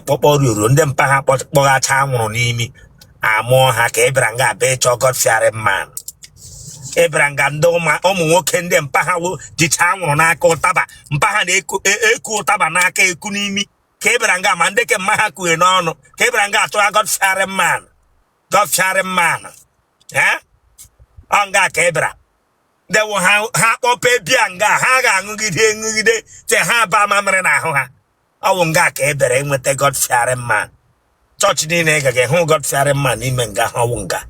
kpọkpọ ruru ndị mpa ha kpọ- kpọghacha anwụrụ n'imi amụọ ha ka ịbịara nga abịa ịchọ God fearing man ịbịara nga ndị ụma- ụmụ nwoke ndị mpa ha wo- jicha anwụrụ n'aka ụtaba mpa ha na-eku e- eku ụtaba n'aka eku n'imi ka ịbịara nga ma ndị ke mma ha kuhe n'ọnụ ka ịbịara nga atụgha God fearing man God fearing man ee ọ nga ka ịbịara dewo ha ha kpọpe bịa nga ha ga-aṅụgide ṅụgide te ha baa mamịrị n'ahụ ha ọ wụ nga ka e bere nweta God fearing man chọọchị niile ị gaghị hụ God fearing man n'ime nga ha ọ wụ nga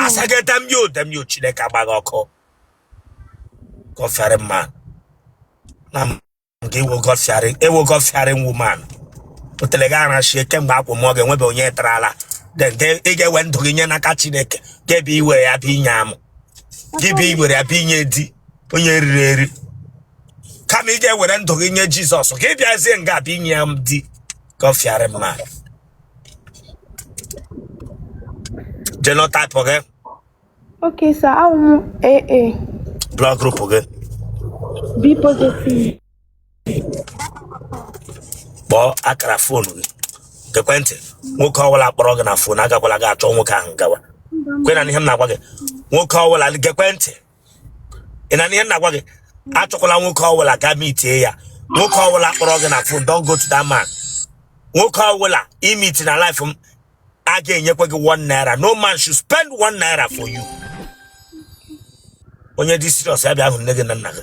a sị gị damn you damn you Chineke agba gị ọkụ God fearing man na nke ị wụ God fearing ị wụ God fearing woman otele gị arachie kemgbe akwụ m ọ ga-enwebe onye tara ala ị ga-ewe ndụ gị nye n'aka Chineke ga-ebe iwere ya bụ inye amụ gị bụ iwere ya bụ inye di onye riri eri kama ị ga-ewere ndụ gị nye jizọs ka ị bịazie nga abịa inye ya di God fearing man genotype gị Okay, sir. Awụ m AA. blood group gị B positive. kpọọ akara fon gị ekwentị nwoke ọbụla kpọrọ gị na fon agakwala ga-achọ nwoke ahụ gawa kwena n'ihe m na-agwa gị nwoke ọbụla gị ekwentị ị na-anụ ihe m na-agwa gị achọkwala nwoke ọbụla gaa mitie ya nwoke ọbụla kpọrọ gị na fon don't go to that man nwoke ọbụla i miti na live m a ga-enyekwa gị one naira no man should spend one naira for you onye dị serious ya bịa hụ nne gị na nna gị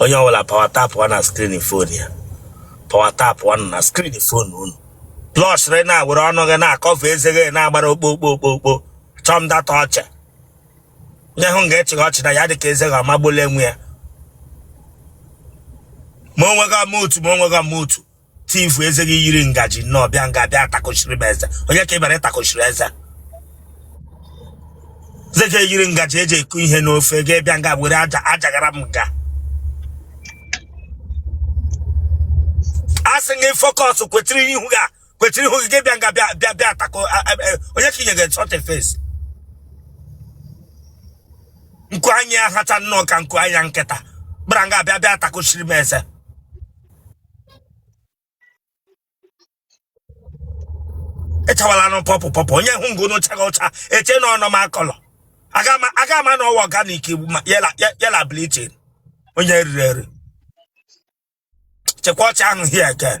onye ọbụla power tapụ na screen fon ya power tapụnụ na screen fon unu plọsịrị na-ewere ọnụ gị na-akọfe eze gị na-agbara okpo okpo okpo okpo chọm data ọchị onye hụ nga ị chịgha ọchị na ya dị ka eze gị ọmagbole nwe ya ma onwe gị ama otu ma onwe gị ama otu teeth eze gị yiri ngaji nnọọ bịa nga bịa takochiri m eze onye ka ịbịara ịtakochiri eze eze gị yiri ngaji eji eku ihe n'ofe gị bịa nga were aja ajagara m nga a sị gị focus kwetiri ihu gị a, kwetiri ihu gị gị bịa nga bịa bịa bịa tako a- a- a- onye ka inyegere sọte face nkụ anya hacha nnọọ ka nkụ anya nkịta ịbịara nga bịa bịa takochiri m eze ị chawalanụ pọpụ pọpụ onye hụ nga ị na-acha ụcha eche na ọ normal colour aga ama na ọ wụ organic yela bleaching onye riri eri chịkwa ọchị ahụ here again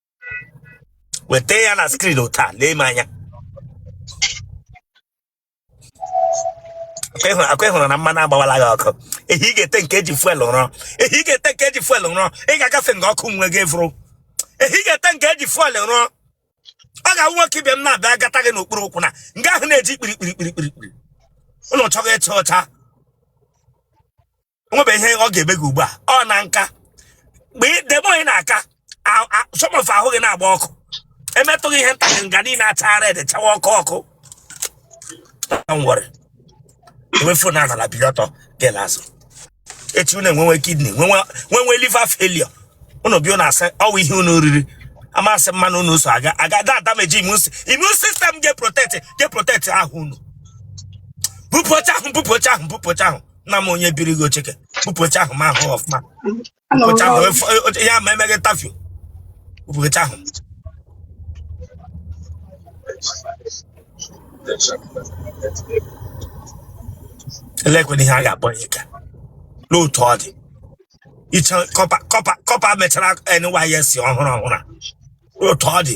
weta ya na skrin otu a lee m anya akwa ị hụrụ na mmanụ agbawala gị ọkụ ehi ị ga-ete nke eji fuel rụọ ehi ị ga-ete nke eji fuel rụọ ị ga-agafe nga ọkụ nwe gị vụrụ ehi ị ga-ete nke eji fuel rụọ ọ ga-awụ nwoke ibe m na-abịa gata gị n'okpuru ụkwụ na nga ahụ na-eji kpirikpiri kpirikpiri ị nọ chọga ịcha ọcha o nwebe ihe ọ ga-eme gị ugbu a ọ na nka mgbe debe onye na-aka some of ahụ gị na-agba ọkụ emetụ gị ihe ntakịrị nga niile achaa red chawa ọkụ ọkụ nwere ewefu na anala bili ọtọ gela azụ echi unu enwewe kidney nwewe liver failure unu bịa unu asị ọ wụ ihe unu riri amaghị mmanụ unu so aga aga da adamage immune immune system ga-eprotect ga-eprotect ahụ unu bupụcha ahụ bupụcha ahụ bupụcha ahụ nna m onye biri gị ocheke kpụpụcha ahụ ma ahụ ọfụma kpụpụcha ahụ ya ma emeghị tafio kpụpụcha ahụ elekwana ihe a ga-akpọ ya ka n'otu ọ dị iche corper corper corper mechara NYSC ọhụrụ ọhụrụ a. n'otu ọ dị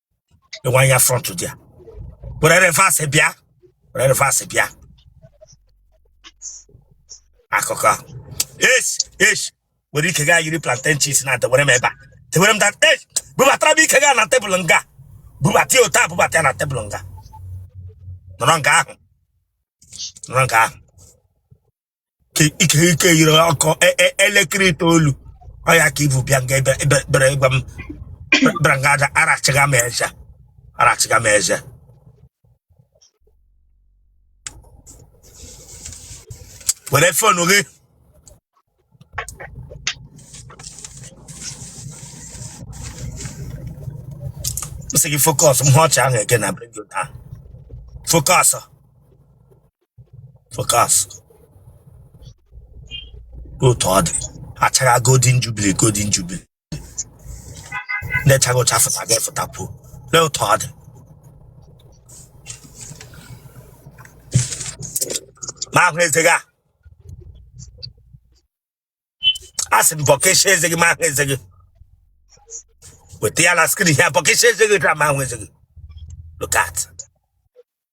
ịwa ya front dị ya were reverse bịa were reverse bịa akụkọ ahụ esh esh were ike gị a yiri plantain chips na-edewere m ebe a dewere m da esh bubatara m ike gị a na tebụl nga bubata ya otu a bubata ya na tebụl nga nọrọ nga ahụ nọrọ nga ahụ Ke- ike ike yiri ọkụ e- e- elekere itoolu ọ ya ka i bu bịa nga ebe ebe- bịara ịgwa m bịara nga na-arachiga m eze arachiga m eze were phone gị m sị gị focus m hụ ọchị ahụ ege na bring you down focus focus otu ọ dị achaga golden jubilee golden jubilee na-achaga ụcha fụtaga fụtakwuo lee otu ọ dị m ahụ eze gị a a sị m bọkesia eze gị m ahụ eze gị weta ya na skrin ya bọkesia eze gị ka m ahụ eze gị look at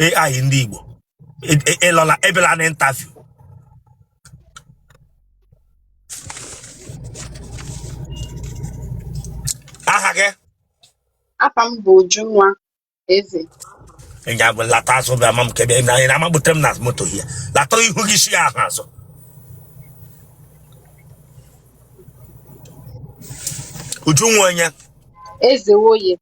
AI ndị Igbo E- e- ịlọla ebela na interview aha gị Afa m bụ Ujunwa Eze. ịnya bụ lata azụ bịa ma m kebe na anyị na-amagbute m na moto hie lata ihu gị si ya ahụ azụ Ujunwa onye Eze Woye.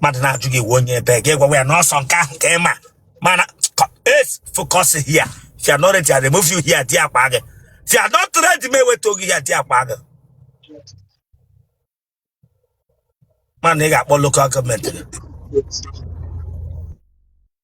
mmadụ na-ajụ gị onye ebe gị gwawa ya na ọ sọ nke ahụ ka ị ma mana es focus here if you are not ready I remove you here di akpa gị if you are not ready m eweta oge ya di akpa gị mana ị ga-akpọ local government gị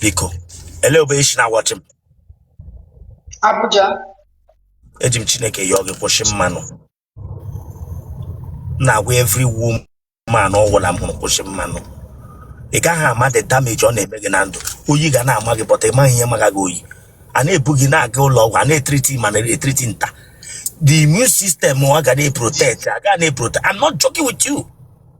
biko ele ebe i si na-awachị m Abuja. eji m chineke yọọ gị kwụsị mmanụ M na-agwa every woman ọ wụla m hụrụ kwụsị mmanụ ị gaghị ama the damage ọ na-eme gị na ndụ oyi ga na-ama gị but ị maghị ihe maga gị oyi a na-ebu gị na-aga ụlọ ọgwụ a na-etriti ma na-etriti nta the immune system ọ ga na-eprotect a ga na-eprotect I'm not joking with you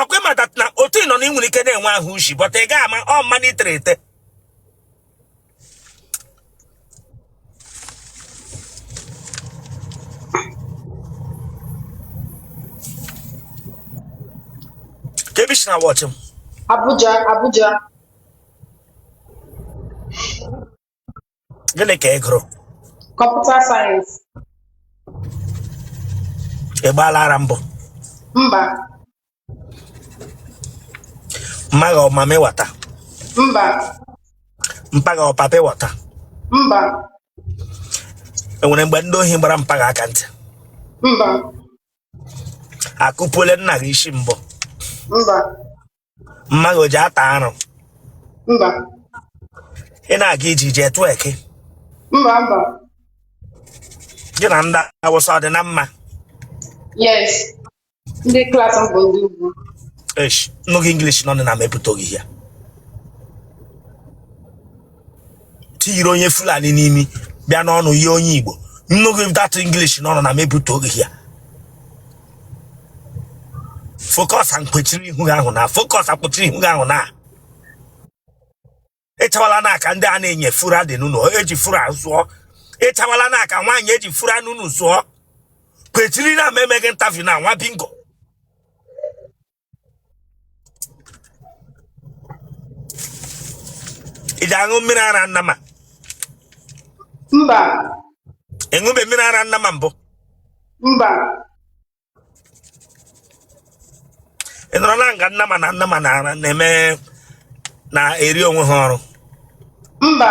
ọ kwa ị ma that na otu ị nọ na ị nwere ike na-enwe ahụ ushi but ị gaghị ama ọ mmanụ i tere ete kee ebe i si na-awachị m Abuja, Abuja. gịnị ka ị gụrụ computer science ị gbaala ara mbụ mba mma gị ọ mamịwata mba mpa gị ọ papa wata mba e nwere mgbe ndị ohi gbara mpa gị aka ntị mba akụpuola nna gị isi mbụ mba mma gị o ji ata arụ mba ị na-aga iji jee tụọ eke mba mba gị na ndị awụsa ọ dị na mma yes ndị class m bụ ndị ugwu Eish, m nụ gị English n'ọnụ na m ebute oge ya tiyiri onye fulani n'imi bịa n'ọnụ yie onye igbo m nụ gị that english n'ọnụ na m ebute oge ya focus akpọchiri ihu gị ahụ na focus akpọchiri ihu gị ahụ na ịchawala na aka ndị a na-enye fura dị n'ụlọ eji fura zụọ ịchawala na aka nwaanyị eji fura n'ụlọ zụọ kwechiri na m mee gị interview na nwa bingo ị ji aṅụ mmiri ara nnama mba ị ṅụbe mmiri ara nnama mbụ mba ị nọrọ na nga nnama na nnama na-eme na-eri onwe ha ọrụ mba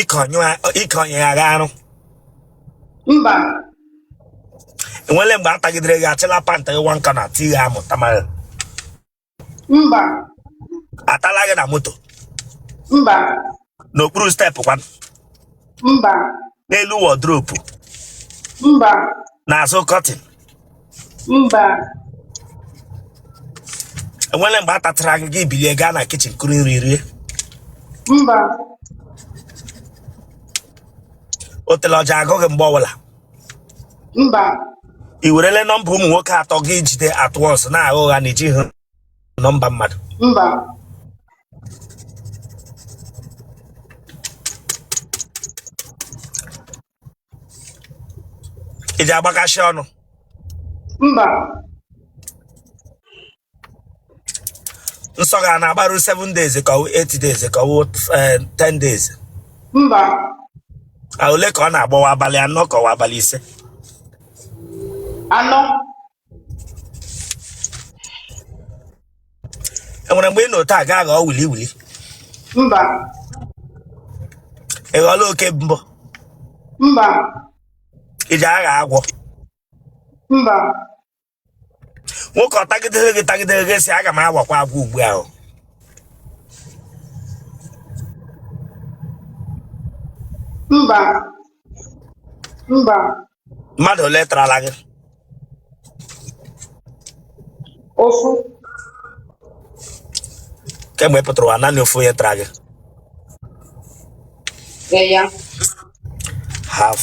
ịkọnyegharị arụ mba enwere mgbe a tagidere gị achịla panta gị nwa nka na tii gị amụ tamara mba atala gị na moto mba n'okpuru steepụ kwanụ mba n'elu wọdropu mba n'azụ kọtịn mba enwere mgbe a tatara gị gị bilie gaa na kichin kuru nri rie mba otele ọ ji agụ gị mgbe ọbụla mba i werela nọmba ụmụ nwoke atọ gị ejide at once na-agha ụgha na i ji hụ nọmba mmadụ mba ị ji agbakasị ọnụ mba nsọ gị na-agbaru 7 days ka ọ wụ 8 days ka ọ wụ eh, 10 days mba Ah, ole ka ọ na-agbawa abalị anọ ka ọ wụ abalị ise anọ enwere mgbe ị nọ taa gaa ghọọ wili wili mba ị ghọọla oke mbọ mba ị ji aghọ agwọ mba nwoke ọ tagidere gị tagidere gị si aga m aghọkwa agwọ ugbu ahụ mba mba mmadụ ole tarala gị ofu kemgbe ị pụtara ụwa naanị ofu onye tara gị ee ya half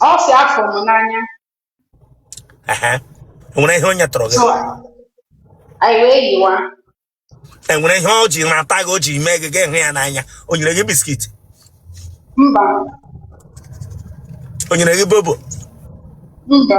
ọ sị a fụrụ m n'anya Ehe. enwere ihe o nyetụrụ gị so anyị wee yiwa enwere ihe o ji na-ata gị o ji mee gị gị hụ ya n'anya o nyere gị biskit mba o nyere gị bobo mba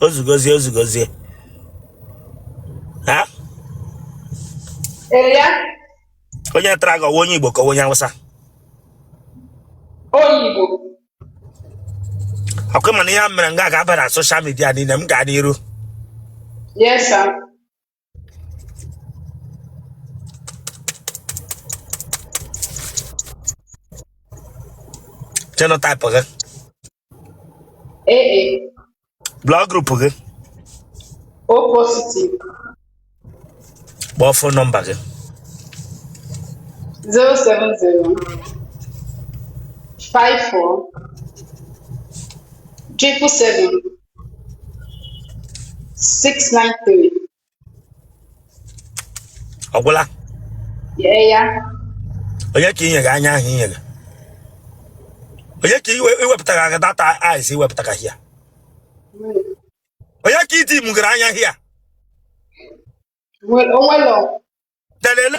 o zugozie o zugozie ha Eya, onye tara gị ọ wụ onye igbo ka ọ wụ onye awụsa onye Igbo. ọ kwa ị ma na ihe a mere nga ga-aba na soshal midia niile m gaa n'iru Yes, sir. Genotype gị. AA. Blood group gị. O positive. Kpọọ phone number gị. 070 54 triple seven 693. ọ gwụla Yeah, yeah. onye ka i nyere anya ahụ i nyere onye ka iwe iwepụtara gị that eyes i wepụtara here onye ka iti mugara anya here Well, oh, well, oh. telele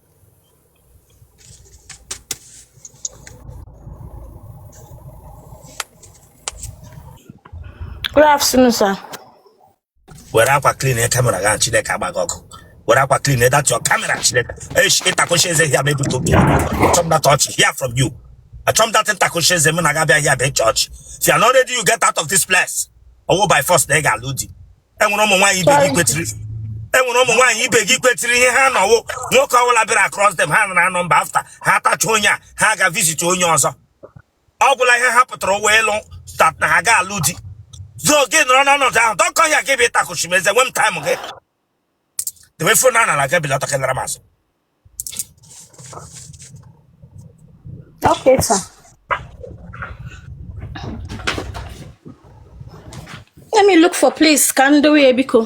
Good afternoon, sir. were akwa clean e camera gị chineke agba gị ọkụ were akwa clean e that your camera chineke esh ịtakụchi eze here ma ebute obi achọm that ọchị here from you achọm that ntakụchi eze m na ga-abịa here bụ ịchị ọchị if you are not ready you get out of this place ọ wụ by force na ị ga-alụ di enwere ụmụ nwaanyị ibe gị kwetiri enwere ụmụ nwaanyị ibe gị kwetiri ihe ha nọ wụ nwoke ọbụla bịara across them ha anara number after ha atacha onye a ha ga visit onye ọzọ ọ gwụla ihe ha pụtara ụwa ịlụ stat na ha ga-alụ di so gị nọrọ n'ọnọdụ ahụ dọkọ ya gị bụ ịtakụchi m eze nwe m time gị debe phone a n'ala ga belata ka ị laara m azụ Okay, sir. Let me look for place ka m dowe ya biko.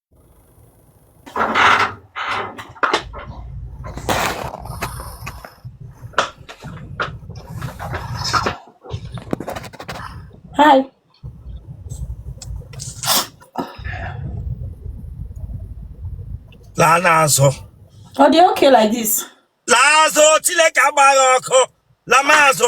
Hi. laa n'azụ Ọ dị okay like this? laa azụ chineke agba gị ọkụ laa m azụ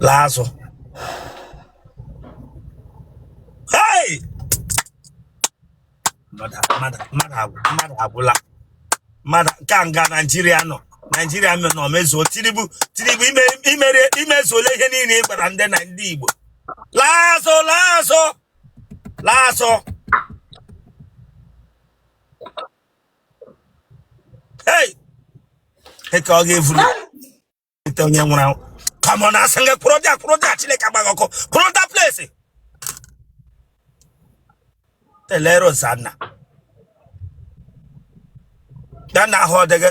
laa azụ mmadụ agwụla mmadụ nke a nga naịjirịa nọ naịjirịa nọ mezuo tinubu tinubu i mezuola ihe niile ị gwara ndị na ndị igbo laa azụ laa azụ laa azụ Hey! Eke ọ ga-evuru ite onye nwụrụ anwụ. Come on, a sị gị kwụrụ there, kwụrụ there, Chineke agba gị ọkụ. Kwụrụ that place. Elere Ozanna. Ya na ahụ ọ dịghị.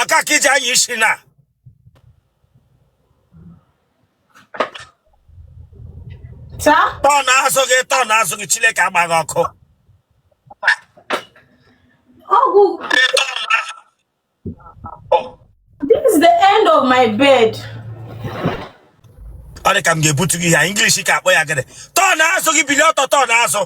aka ka iji anya isi na Taa? turn azụ gị turn azụ gị chineke agbaa gị ọkụ Ọgwụ. This is the end of my bed. ọ dị ka m ga-ebutu ihe English ka akpọ ya gịnị turn azụ gị bilie ọtọ turn azụ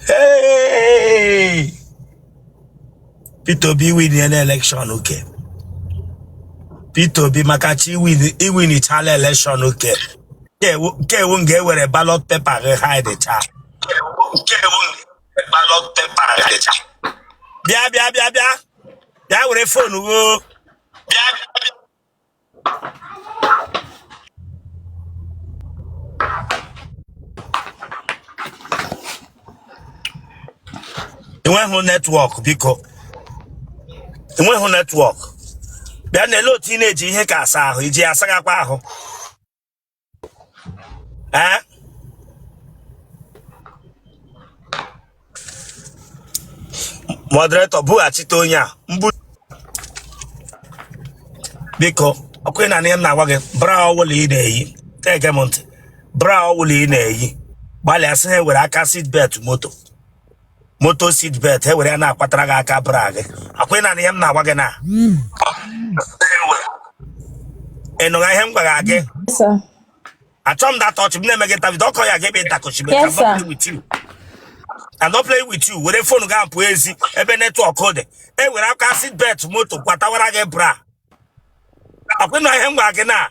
Hey! Peter Obi iwinla election okay. Peter Obi maka chi iwinichala election okay. Nke ewu nke ewu nga ewere ballot paper gị hide cha. bịa bịa bịa bịa bịa were fonu gị bịa enweghị netwọk biko enweghị netwọk bịa na-ele otu ị na-eji ihe ka asa ahụ i ji asakwa ahụ ee moderator bughachite onye a mbu biko ọkwa ị na-anụ ihe m na-agwa gị bra ọwụla ị na-eyi na-ege m ntị bra ọwụla ị na-eyi gbalịa sị ha were aka seat belt moto moto seat belt e were ya na-akwatara gị aka bra gị ọkwa ị na-anụ ihe m na-agwa gị na ị nụrụ ihe m gwara gị Yes, sir. achọ m data ọchị m na-eme gị tavid ọkọ ya ga-ebe ịtakochi me Yes, sir. with you I'm not playing with you were fon gị apụ ezi ebe netwọk dị e were aka seat belt moto kwatawara gị bra ọkwa ị nụrụ ihe m gwara gị na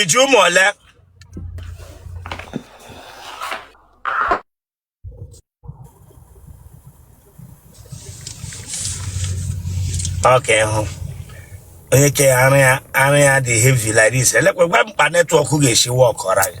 iji ụmụ ole ọka ịhụ onye ke ya ara ya ara ya dị heavy like this elekwa gwa m kpa netwọk ga-esi wọkọra gị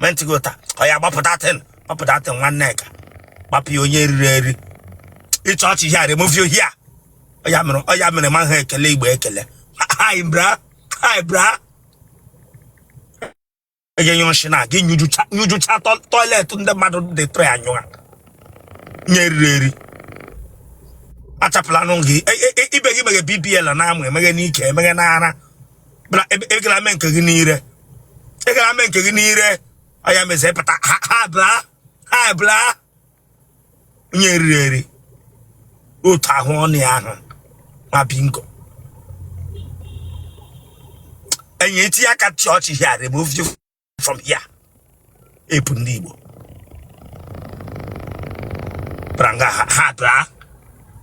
mentigo taa oya gbapụta tin gbapụta tin nwanne ka gbapụ ya onye riri eri ịchọ ọchị ihe a remove your hair ọ ya mere ọ ya mere ma ha ekele igbo ekele hi bra hi bra ege nyụrụ shi na gị nyụjụcha nyụjụcha to- toilet ndị mmadụ dị tụrụ ya nyụọ onye riri eri achapụla anụ gị E- e- e- ibe gị meghe bbl na-amụ emeghe n'ike emeghe n'ara mana ị gara e, e mee nke gị n'ire ị gara e mee nke gị n'ire ọya mezi pụta ha bla ha bla onye eriri eri otu ahụ ọnụ ya ahụ nwa bingo enyi eti aka chọọchị hia remove you from here epu ndị Igbo bara nga ha ha daa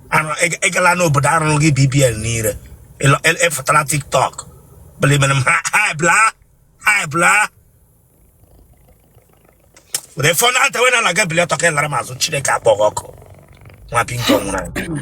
anụ ị- ị gala n'obodo a rụrụ gị BBL n'ire ịlọ- ị- ị fụtara TikTok belimen m ha ha ebla ha ebla were fon a tewe n'ala gị bili ọtọ ka ị lara m azụ Chineke akpọ gị ọkụ nwa bingo nwụrụ anwụ.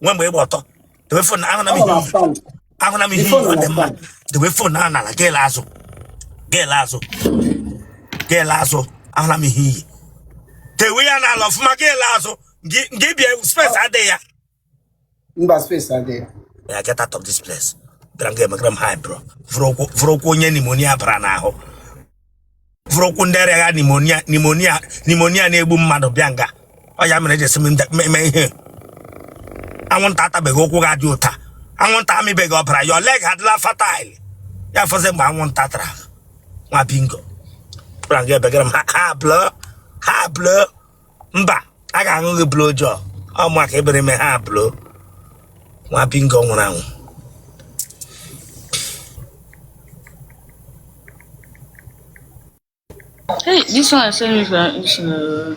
nwe mgbe ị gba ọtọ debe fon ahụna m ihe ahụna m ihe ọ dị mma debe fon ahụ n'ala gị laa azụ gị laa azụ gị laa azụ ahụna m ihe enyi tewe ya n'ala ọfụma gị laa azụ gị bịa space adịghị ya mba space adịghị ya ya get out of this place gara m ga-emegara m ha blọ vuru ụkwụ onye pneumonia bara n'ahụ vuru ụkwụ ndị arịa ya pneumonia pneumonia pneumonia na-egbu mmadụ bịa nga ọ ya mere e ji sị m nda- me- me ihe anwụnta atabeghị ụkwụ gị a dị otu a anwụnta amịbeghị ọbara your leg adịla fertile ya fọzi mgbe anwụnta tara nwa bingo gwara m gị ebegara m ha ha blọ ha blọ mba a ga-aṅụ gị blo jọ ọ maka i bere m ha blo nwa bingo nwụrụ anwụ Hey, this one sent me for issue.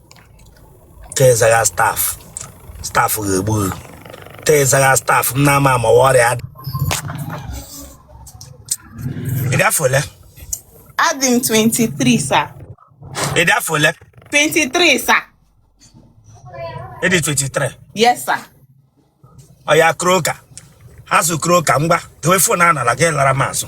tezagha staph staph ga-egbu gị tezagha staph m na-ama ama ọrịa adị ị dị afọ ole Adị m 23 sir. ị dị afọ ole 23 sir. ị dị 23 Yes sir. ọya kroka azụ kroka ngwa dowe fon a n'ala gị lara m azụ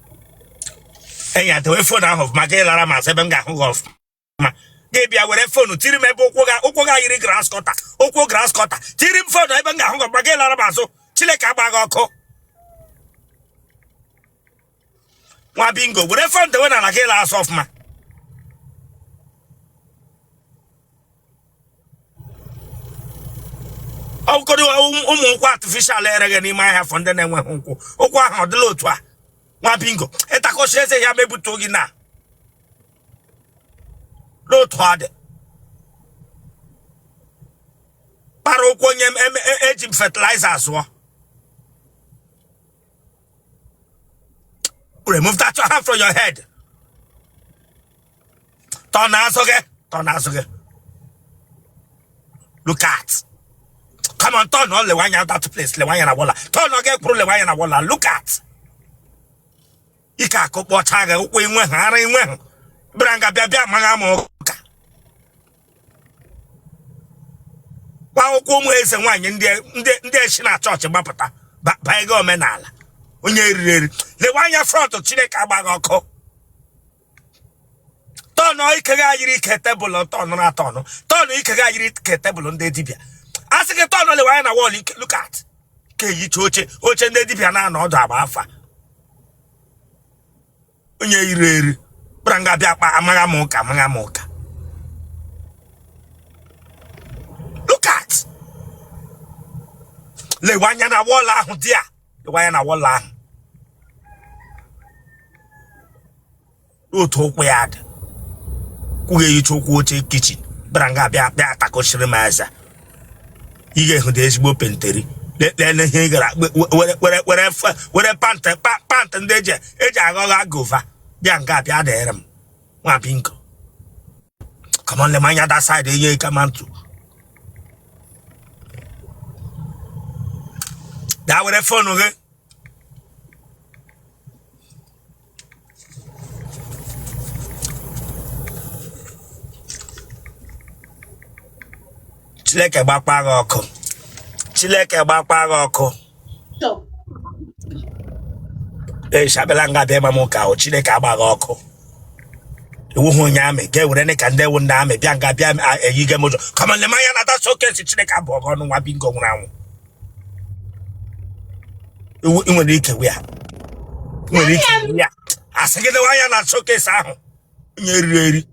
enyi a dewe fon ahụ ọfụma gị lara m azụ ebe m ga-ahụ gị ọfụma gị bịa were fon ahụ tiri m ebe ụkwụ gị a ụkwụ gị a yiri grasscutter ụkwụ grasscutter tiri m fon ahụ ebe m ga-ahụ gị ọfụma gị lara m azụ chineke agba gị ọkụ nwa bingo were fon dewe n'ala gị lara azụ ọfụma ọkụkọrọ ụmụ ụkwụ artificial e reghe n'ime ahịa for ndị na-enweghị ụkwụ ụkwụ ahụ ọ dịla otu a nwa bingo ịtakọsi eze ya mebute gị na n'otu ọ dị kpara ụkwụ onye eji m fertilizer zụọ remove that your hand from your head turn azụ gị turn azụ gị look at come on turn lewe anya that place lewe anya na wall a turn ọ ga-ekpụrụ lewe anya na wall a look at ike akụ kpọcha gị ụkwụ i nwehụ ara i nwehụ bịara nga bịa bịa amagha m ụka akwụkwọ ụmụ eze nwaanyị ndị echi na chọọchị gbapụta banye gị omenala onye eriri eri lewe anya front chineke agba gị ọkụ turn ike gị a yiri ike table turn na turn turn ike gị a yiri ike table ndị dibịa a sị gị turn lewe anya na wall ike look at ka eyicha oche oche ndị dibịa na-anọ ọdụ agba afa onye eriri eri bịara nga bịa bịa amagha m ụka amagha m ụka look at lewe anya na wall ahụ dị a lewe anya na wall ahụ otu ụkwụ ya dị ụkwụ gị eyicha ụkwụ oche kitchen bịara nga bịa bịa atakọchiri m eze ị ga-ehụ dị ezigbo pant yiri lele ihe ị gara were were were were pant pant ndị eji eji aghọgha gova bịa nga bịa dịrị m nwa bingo come on lema anya that side enye ike ma ntụ daa were phone gị chineke gbakwa gị ọkụ chineke gbakwa gị ọkụ eshabela nga bịa ịgba m ụka ahụ chineke agba gị ọkụ ị wụhụ onye army ga ewere ne ka ndị ewu ndị army bịa nga bịa eyigha m ụjọ come on lema anya na that showcase chineke abụọ gị ọnụ nwa bingo nwụrụ anwụ Iwu- i nwere ike wee ya i nwere ike wee ya asị gị lewa anya na showcase ahụ onye eriri eri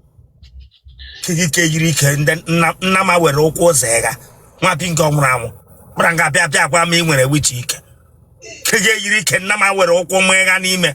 ike gị yiri ike ndị nna nnama were ụkwụ zọgha nwa bingo nwụrụ anwụ bịara nga bịa bịa gwa m ị nwere which ike ike gị eyiri ike nnama were ụkwụ m ịga n'ime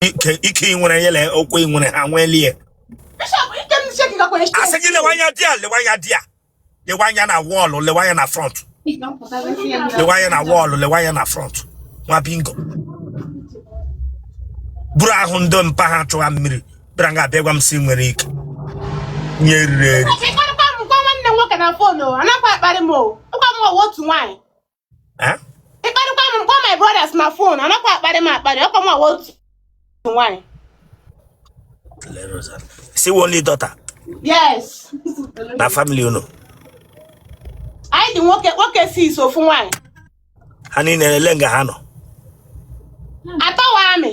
ike ike ị nwere yele ụkwụ ị nwere ha nwelie Bishop, ike m si ekikakwa echi. asị gị lewa anya di a lewa anya di a lewa anya na wall lewa anya na front lewa anya na wall lewa anya na front nwa bingo buru ahụ ndị mpa ha chugha mmiri bịara nga abịa gwa m sị i nwere ike onye eriri eri Ịkparịkwa m gwa nwanne m nwoke na phone o, anakwa akparị m o. Ịkwa m ọwa otu nwaanyị. eh? ị kparịkwa m m kpọọ my brothers na phone anakwa akparị m akparị ọ kwa m wụ otu nwaanyị sị only daughter yes na family unu anyị dị nwoke nwoke six ofu nwaanyị ha niile lee nga ha nọ atọ wụ army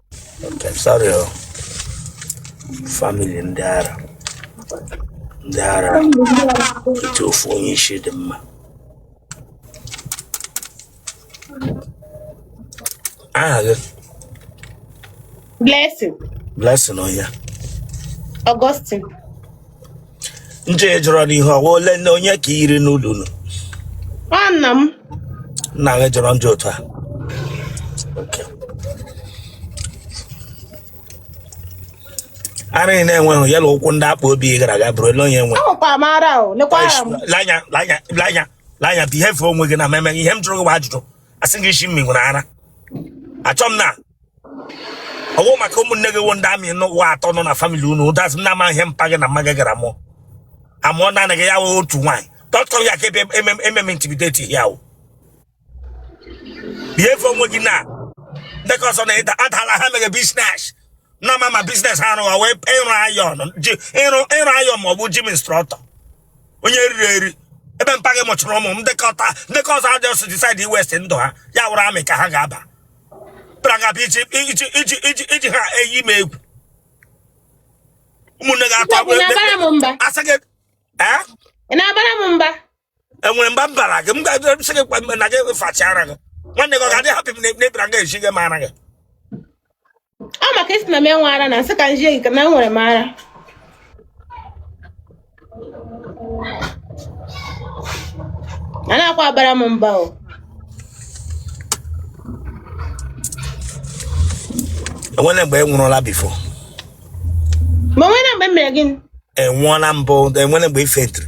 Okay, sorry o. Family ndị ara. Ndị ara etu ofu onye isi dị mma. Aha gị Blessing Blessing onye. Augustine nje jọrọ n'ihu ọwa ole na onye ka i yiri n'ụlọ unu nwanna m nna gị jọrọ njọ otu a Okay. ara ị na-enweghị ya na ụkwụ ndị akpa obi ị gara aga bụrụ ele onye nwe ahụkwa m ara o lekwa ara m lanya lanya lanya lanya behave onwe gị na mmemme ihe m jụrụ gị bụ ajụjụ asị gị ị sị m nwere ara achọ m ịma ọ wụ maka ụmụnne gị wụ ndị army n'ụwa atọ nọ na family unu ụdazị m na-ama ihe mpa gị na mma gị gara mụọ amụọ naanị gị ya wee otu nwaanyị dot com ya ka ebe ememe intimidate ya wụ behave onwe gị na ndị ka ọzọ na ịda adala ha mere business na ma ma business ha rụwa wee ịrụ iron ji ịrụ ịrụ iron ma ọ bụ gym instructor onye riri eri ebe mpa gị mụchara ụmụ m ndị ka ọta ndị ka ọzọ a just decide waste ndụ ha ya wụrụ army ka ha ga-aba pụtara nga iji iji iji iji iji ha eyi m egwu ụmụnne gị atọ asaghị na-abara m mba enwere mba m bara gị m ga-esi gị na gị fachara gị nwanne gị ọ ga-adị hapụ m na ebira nga eji gị mara gị ọ maka ị sị na m enwe ara na m sị ka m zie gị na enwere m ara anakwa abara m mba o enwere mgbe ị nwụrụla before ma nwere mgbe m mere gịnị ị nwụọla mbụ enwere mgbe ị faintiri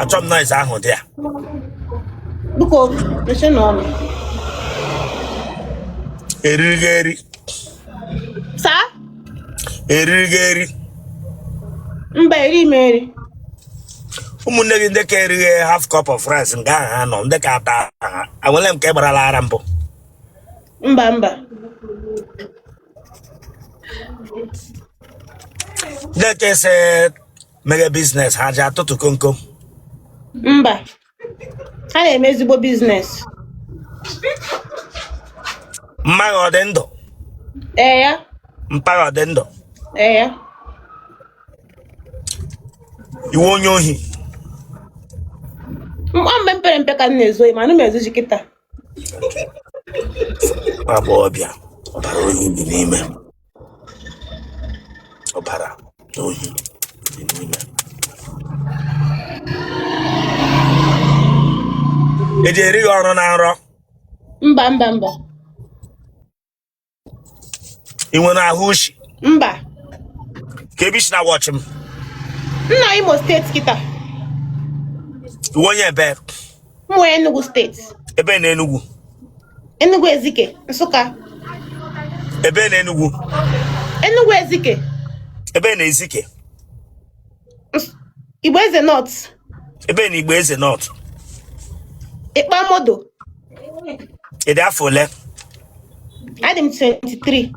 achọ m noise ahụ dị ya biko mechie na ọnụ eriri gị eri saa eriri gị eri mba eri m eri ụmụnne gị ndị ka erighị half cup of rice nke ahụ ha nọ ndị ka ata ha enwele mgbe ị gbarala ara mbụ mba mba Leke se mere biznes ha ji atụtụ komkom. mba ha na-eme ezigbo biznes Mma gị ọ dị ndụ, ee ya mpa gị ọ dị ndụ. ee ya Ị wụ onye ohi. mba mgbe m pere mpe ka m na-ezu mana m ezuzi kịta agbọghọ bịa ọbara oyi dị n'ime ọbara oyi dị n'ime eji eri gị ọrụ na nrọ mba mba mba ị nwere ahụ ushi mba kee ebe i si na wọchị m na imo steeti kịta ị wụ onye ebee mmụ enugu steeti ebe na enugwu enugu ezike nsụka ebe na enugwu enugu ezike ebe na ezike Igbo Eze North. Ebe na Igbo Eze North. Ikpamodo. Ị dị afọ ole? Adị m 23.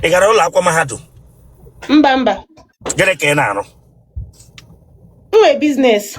Ị gara ụlọ akwụkwọ mahadum? Mba mba. Gịnị ka ị na-arụ? M nwere biznes.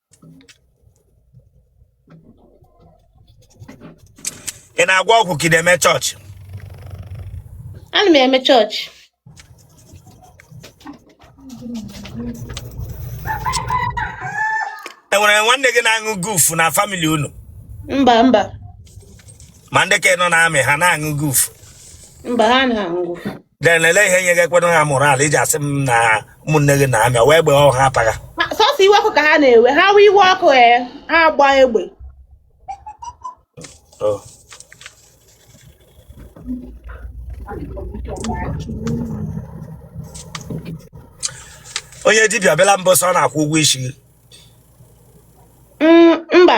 ị na-agwọ ọgwụ ka ị na-eme chọọchị ana m eme chọọchị enwere nwanne gị na-aṅụ guf na famili unu mba mba ma ndị ka nọ na amị ha na-aṅụ guf mba ha na-aṅụ then ele ihe nye gị ekwena ha moral iji asị m na ụmụnne gị na amị nwee egbe ọ ha apaga Ma sọsọ iwe ọkụ ka ha na-ewe ha wee iwe ọkụ ee ha agba egbe Oh. onye dibịa bịala mbọsị ọ na-akwụ ụgwọ isi gị Mm, mba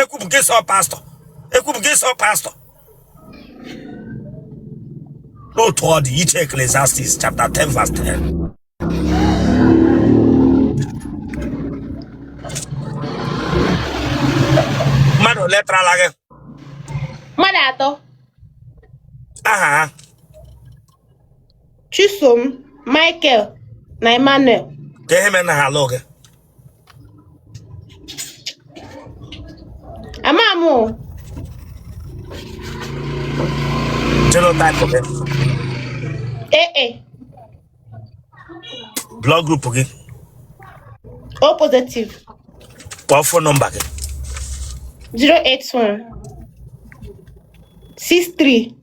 ekwupụ gị sọ pastọ ekwupụ gị sọ pastọ n'otu ọ dị iche eklesiastis chapter 10 verse 10 mmadụ ole tarala gị mmadụ atọ aha ha Chisom, Michael na Emmanuel. Ke ihe mere na ha alụ gị. Ama m o. Genotype gị. AA. Blood group gị. O positive. Kpọọ fon nọmba gị. 081 63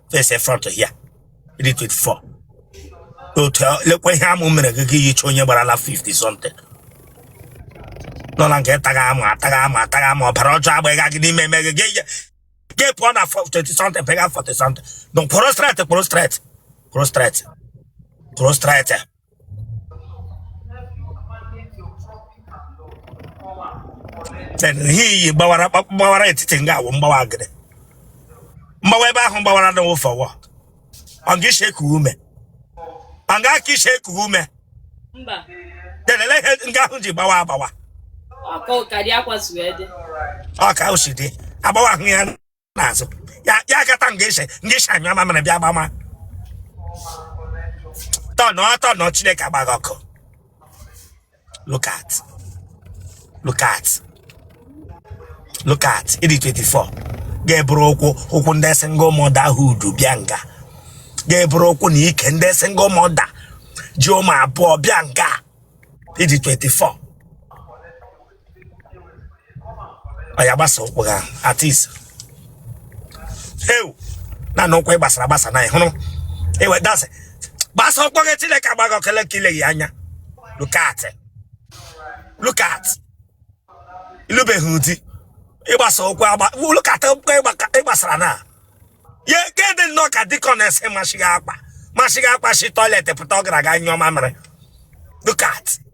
face front here ị dị 24 otu a- lekwa ihe amụ mere gị ka i yicha onye gbarala 50 something nọ na nke taga amụ ataga amụ ataga amụ ọbara ọjọọ agbaga gị n'ime eme gị gị ihe- gị pụọ na 4 20 something fega 40 something don kwụrụ straight kwụrụ straight kwụrụ straight kwụrụ straight ihe i yi gbawara gbawara etiti nga ahụ mgbawa agịrị mgbawa ebe ahụ gbawara na wụfọ wọ ọ ga ishi eku ume ọ ga aka ishi eku ume delele ihe nga ahụ ji gbawa agbawa ọ ka o si dị agbawa ahụ ya n'azụ ya ya akata nga i shi nga i shi anyụ mamịrị bịa gbama tọnụ ọtọ nọ chineke agba gị ọkụ look at look at look at ị dị 24 ga-eburu ukwu ukwu ndị single mother hood bịa nga ga-eburu ukwu na ike ndị single mother ji ụmụ abụọ bịa nga ị dị 24 oya gbasa ụkwụ a at ease heu na na ụkwụ ị gbasara agbasa na ị hụrụ ewe dasị gbasa ụkwụ gị chineke agba gị ọkụ le ka ileghị anya look at look at ị lụbeghị di ị gbasa ụkwụ agba look at ụkwụ ị gbaka- ị gbasara na ya ke dị nnọọ ka dịka onye si masịghị akwa masịghị akwa si toilet pụta ọ gara aga nyụọ mamịrị look at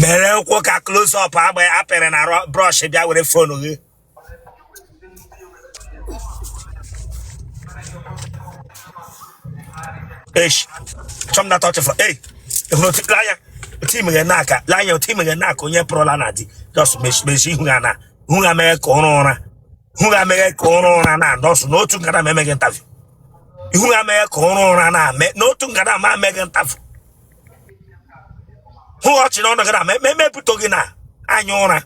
mere ụkwụ ka close up agba ya a pịrị na brush bịa were fonu gị esh chọm na tọchị fọ ei ehụrụ otu lanya otu imeghe na aka lanya otu imeghe na aka onye pụrụla na di just mechi ihu ha na ihu ha mee ka ụra ụra ihu gị ameghe ka ụra ụra na nọọsụ n'otu nkata ma emeghị ntafụ ihu gị ameghe ka ụra ụra na ame n'otu nkata ma emeghị ntafụ hụ ọchị n'ọnụ gị na ma eme emepụta gị na anya ụra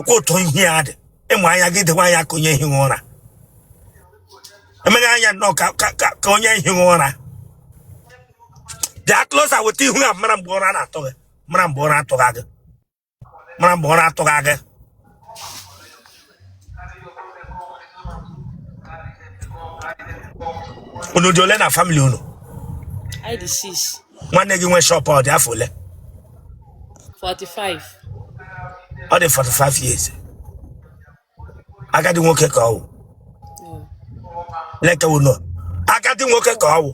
kwa ụtọ ihe ya dị ịmụ anya gị dịkwa anya ka onye ehighị ụra emeghị anya nnọọ ka ka- ka- ka onye ehighị ụra bịa closer weta ihu ya mara mgbe ụra na-atụ gị mara mgbe ụra atụghị gị mara mgbe ọ na-atụ gị aga unu dị ole na family unu anyị dị six, nwanne gị nwe shop a ọ dị afọ ole 45. ọ dị 45 years agadi nwoke ka ọ wụ Yeah. lekwanụ agadi nwoke ka ọ wụ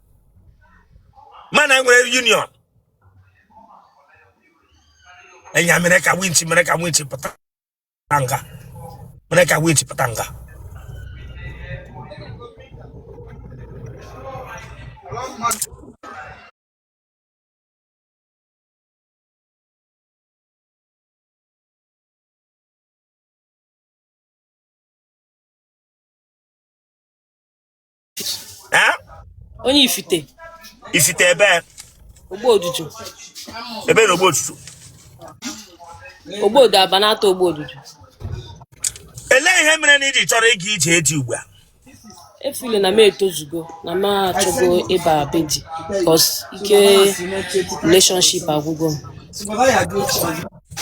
mana e nwere union enya mere ka winchi mere ka winchi pụta nga mere ka winchi pụta nga Eh? onye ifite ifite ebe ogbo odudu ebe na ogbo odudu ogbo odu aba na-ata ogbo odudu elee ihe mere na i ji chọrọ ịga ije di ugbu a afụlụ na m etozugo na m achọgo ịba be di because ike relationship agwụgo m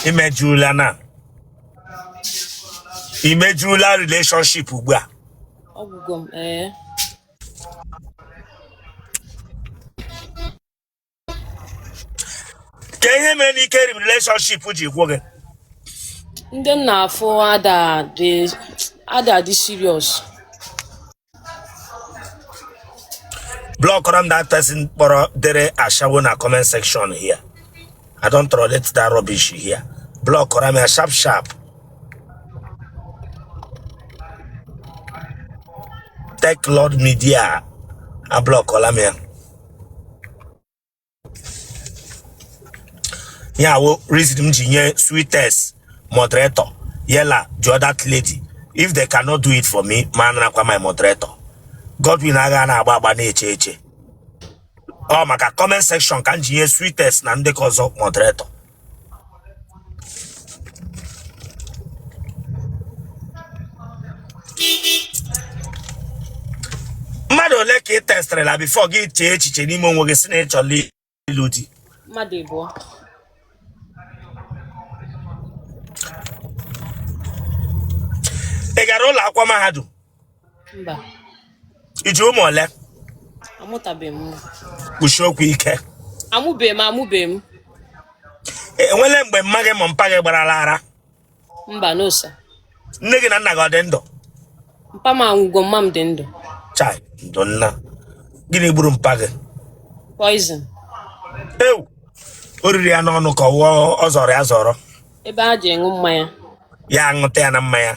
i mejula na i mejula relationship ugbu a ọ gwụgo m ee kaa ihe mere na ike relationship ji gwụ gị ndị m na-afụ ada adị ada adị serious blọkụọrọ m that person kpọrọ dere ashawo na comment section here I don't tolerate that rubbish here. Block or I'm a sharp sharp. Tech Lord Media. I block all I'm here. Yeah, well, reason m ji nye sweetest moderator yela jụọ that lady if they cannot do it for me ma anarakwa my moderator Godwin agha na-agba agba na-eche eche ọ maka comment section ka m ji nye Sweetest na ndị ka ọzọ moderator mmadụ ole ka ị testịrịla before gị echee echiche n'ime onwe gị sị na ị chọla ịlụ di mmadụ ịbụọ ị gara ụlọ akwụkwọ mahadum mba i ji ụmụ ole amụtabeghị m nwa kwusie okwu ike amụbeghị m amụbeghị m E- enwele mgbe mma gị ma mpa gị gbarala ara mba no sir nne gị na nna gị ọ dị ndụ mpa m anwụgo mma m dị ndụ chai ndo nna gịnị gburu mpa gị poison ewu o riri ya n'ọnụ ka ọ wụ ọ zọrọ ya azọrọ ebe a ji ịṅụ mmanya ya aṅụta ya na mmanya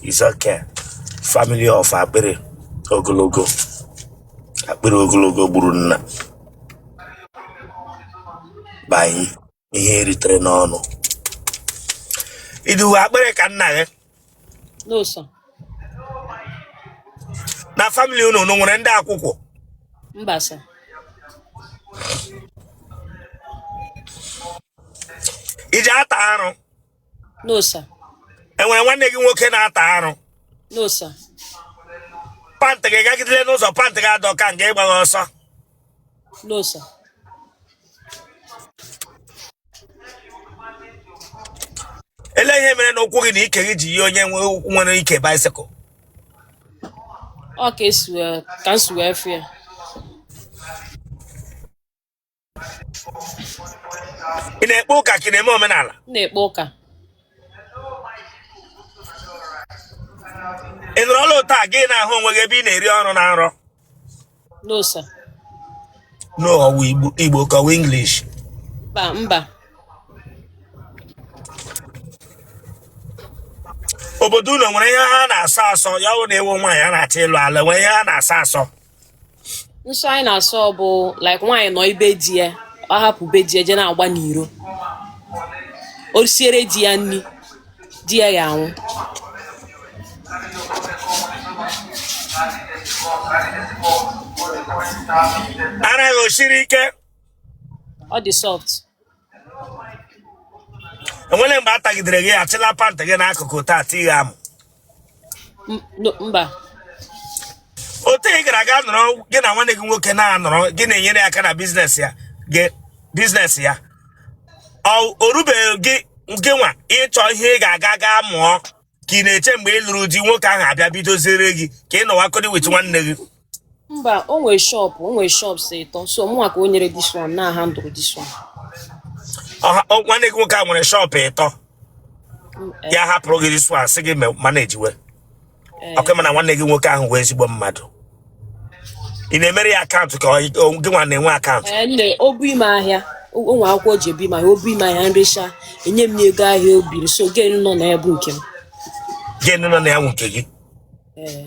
is okay family of akpịrị ogologo akpịrị ogologo gburu nna banyị ihe e ritere n'ọnụ i dowe akpịrị ka nna gị no sir na famili unu unu nwere ndị akwụkwọ mba sir ị ji ata arụ no sir e nwere nwanne gị nwoke na-ata arụ no sir pantị gị gagidere n'ụzọ pantị gị adọka nga ị gbagha ọsọ no sir ele ihe mere na ụkwụ gị na ike gị ji yie onye nwe ụkwụ nwere ike bicycle ọ ka esi wee ka m si wee fụ ya ị na-ekpe ụka ka ị na-eme omenala m na-ekpe ụka ị nwere altar gị na-ahụ onwe gị ebe ị na-eri ọrụ na nrọ No, sir. No, ọ wụ Igbo Igbo ka ọ wụ English. Mba, mba. Obodo unu nwere ihe ha na-asọ asọ ya wụ na ị wụ nwaanyị a na-achọ ịlụ alụ nwere ihe ha na-asọ asọ. Nsọ anyị na-asọ ọ bụ like nwaanyị nọ be di ya ọ hapụ be di ya je na-agba n'iro o siere di ya nri di ya ya anwụ ara gị o siri ike ọ dị soft e nwere mgbe a tagidere gị achịla pantị gị n'akụkụ taa tighe amụ mba otu ị gara aga nọrọ gị na nwanne gị nwoke na-anọrọ gị na-enyere aka na biznes ya gị biznes ya o rubeghị gị gị nwa ịchọ ihe ị ga-aga gaa mụọ ka ị na-eche mgbe ị lụrụ di nwoke ahụ abịa bidoziere gị ka ị nọwagodi with nwanne gị Mba, o nwere shop, o nwere shops ịtọ. So mụnwa ka o nyere this one na handle this one. Ọha- ọ- nwanne gị nwoke a nwere shop ịtọ Mm, eh, ya hapụrụ gị this one sị gị me- managewe eh. okay mana nwanne gị nwoke ahụ wụ ezigbo mmadụ ị na-emere ya akaụntụ ka ọ- ọ- gị nwa na-enwe akaụntụ Ee, nne o bunye m ahịa o o nwe akwụkwọ o ji ebunye m ahịa o bunye m ahịa m recha enye m ya ego ahịa o buru so gain nọ na ya bụ nke m gain nọ na ya wụ nke gị Ee.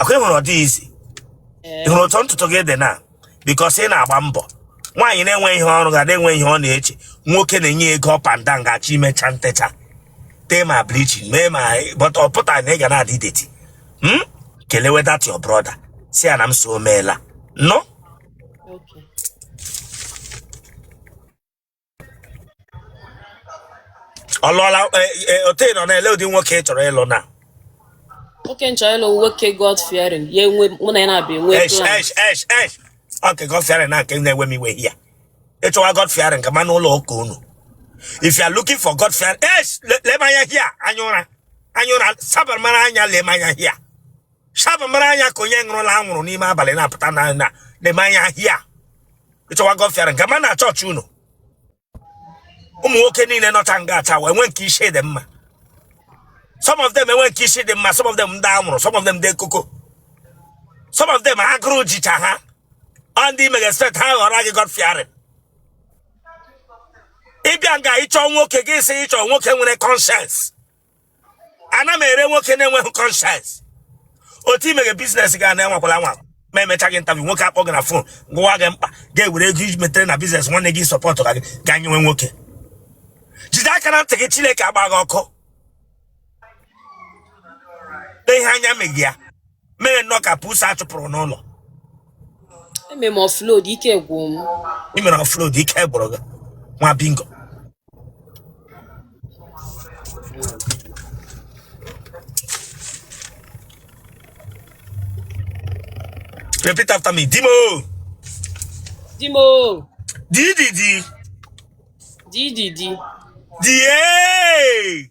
ọ kwa ị hụrụ ọ dị easy ị hụrụ otu ntutu gị dị na because ị na-agba mbọ nwaanyị na-enwe ihe ọ rụga na-enwe ihe ọ na-eche nwoke na-enye ego ọpanda ga-achọ ime ọcha ntecha tee ma bleaching mee ma but ọ pụta na ị ga na-adị dirty hmm? kelewe that your brother sị ya na m sị o meela nnọọ ọ lụọla eh, eh, otu ị nọ na-ele ụdị nwoke ị chọrọ ịlụ na nwoke nchọ ịlụ nwoke god fearing ya enwe mụ na ya na-abịa enwe esh plan esh esh esh ọke god fearing na nke na-ewe m iwe ya ị chọwa god fearing gama n'ụlọ ụka unu if you are looking for god fearing esh le- lee m anya hia anya ụra anya ụra sabar mara anya lee m anya hia shabụ mara anya ka onye ṅụrụla anwụrụ n'ime abalị na-apụta na na lee m anya hia ị chọwa god fearing gama na chọọchị unu ụmụ nwoke niile nọcha nga acha wee nwee nke isi dị mma some of them enwe nke isi dị mma some of them ndị anwụrụ some of them ndị koko some of them agụrụ jicha ha ọ ndị ị mega expect ha ghọrọ gị god fearing ị bịa nga ịchọ nwoke gị sị ị chọ nwoke nwere conscience ana m ere nwoke na-enweghị conscience otu i meghe business ga na enwekwala nwa ma emecha gị ntabi nwoke akpọọ gị na phone gwa gị mkpa gị ewere ego i metere na business nwanne gị support ka gị ga nyewe nwoke jide aka na ntị gị chineke agba gị ọkụ lee ihe anya megị ya mere nnọọ ka pusi a chụpụrụ n'ụlọ eme m offload ike gwụ m ị mere offload ike gwụrụ gị nwa bingo repeat after me di m o di m o dididi di di di die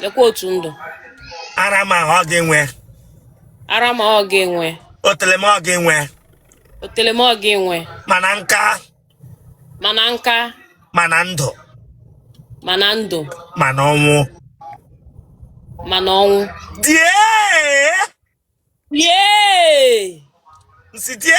lekwa otu ndụ ara m ọ gị nwe ara m ọ gị nwe otele m ọ gị nwe otele m ọ gị nwe ma na nka ma na nka ma na ndụ ma na ndụ ma na ọnwụ ma na ọnwụ die die nsi die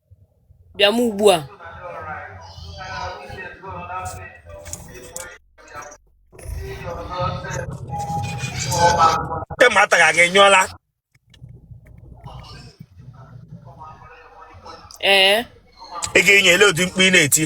Bịa m ugbu a. Ndị mmadụ taghị aga enyụọla. Ee. Ị ga-enye ele ụdị mkpu ị na-eti.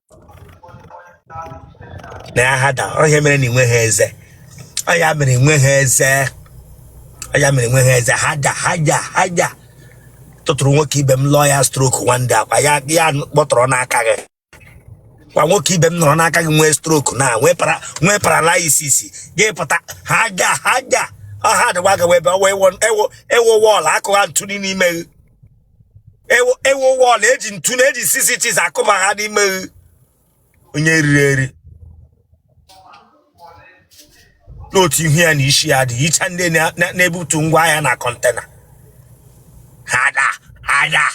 na ya harder ọhịa mere na inwe ha eze ọhịa mere inwe ha eze ọhịa mere inwe ha eze harder ha ja ha ja tụtụrụ nwoke ibe m lụọ ya stroke wande akwa ya ya kpọtọrọ n'aka gị kwa nwoke ibe m nọrọ n'aka gị nwee stroke na nwee para nwee paralysis gị pụta ha ja ha ja ọha adịwa gị webe ewo ewo ewo wọọlụ akụgha ntụli n'ime gị ewo ewo wọl eji ntu na eji six inches akụ ma ha n'ime onye riri eri n'otu ihu ya na isi ya dị icha ndị na- na- na-ebutu ngwa ahịa na kọntena ha da anya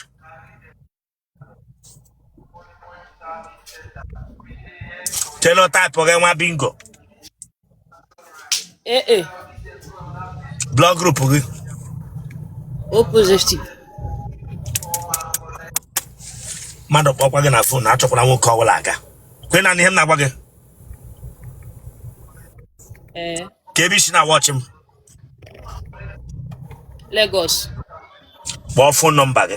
genotype gị nwa bingo Ee, ee, blood group gị O positive. mmadụ kpọkwa gị na fon achọkwala nwoke ọbụla aga kwe na ihe m na-agwa gị Ee, ka ebe i si na-awọchị m Lagos. kpọọ fon nọmba gị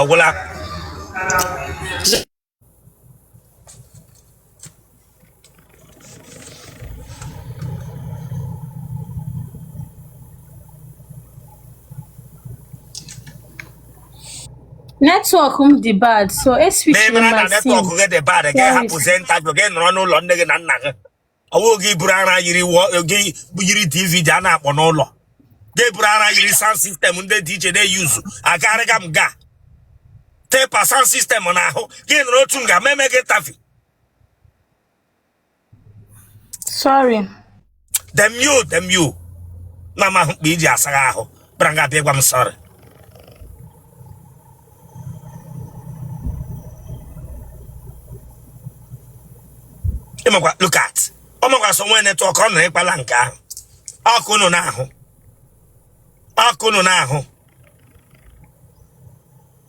ọ gwụla Netwọk m dị bad so eswitchiri na-emere na my sim. netwọk gị dị bad gị Where is hapụzie ntajụ ga nọrọ n'ụlọ nne gị na nna gị ọwụ gị buru ara yiri gị yiri dvd a na-akpọ n'ụlọ gị buru ara yiri sound system ndị DJ na-eyuzu akarịga m ga tepa sound system n'ahụ gị nụrụ otu m ga meme gị tafi sorry damn you damn you na amahụ mkpa iji asagha ahụ kpara nga abịa ịgwa m sọrị ịmakwa look at ọ makwa so nwee netwọk ọ nọ ịkpala nke ahụ ọkụ nụ n'ahụ ọkụ nụ n'ahụ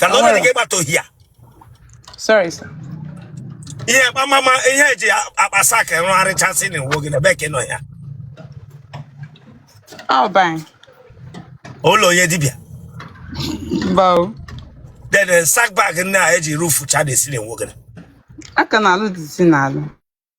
ka na onye ga-abata ọhịa sorry sir ihe kpamama ihe eji akpa sack rụgharịchasị na iwu gị na ebe ka ị nọ ya all bang ụlọ onye dibịa bow then eh, sack bag nne a eji rufu cha na-esi na iwu gị aka na alụ dịzi na alụ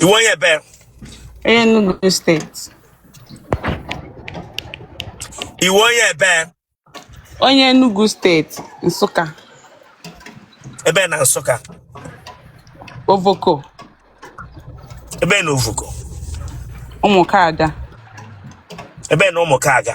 ị wụ onye ebe Enugu steeti ị wụ onye ebe onye Enugu steeti Nsụka ebe na Nsụka Ovoko ebe na Ovoko ụmụka aga ebe na ụmụ ka aga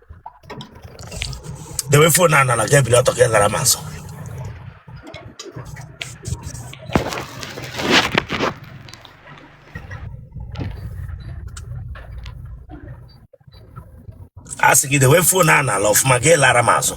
dewe fon a nala jebiri ọtọ ka ị lara ma nso a sị gị dewe fon a nala ọfụma ka ị lara ma azụ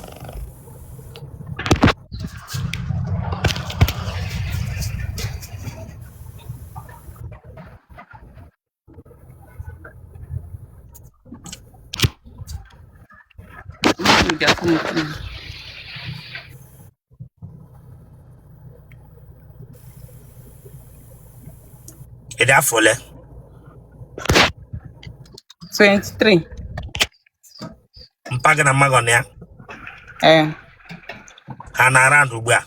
Ị dị afọ ole? 23. Mpa gị na mma gị ọ nọ ya? Ee. Ha nọ around ugbu a?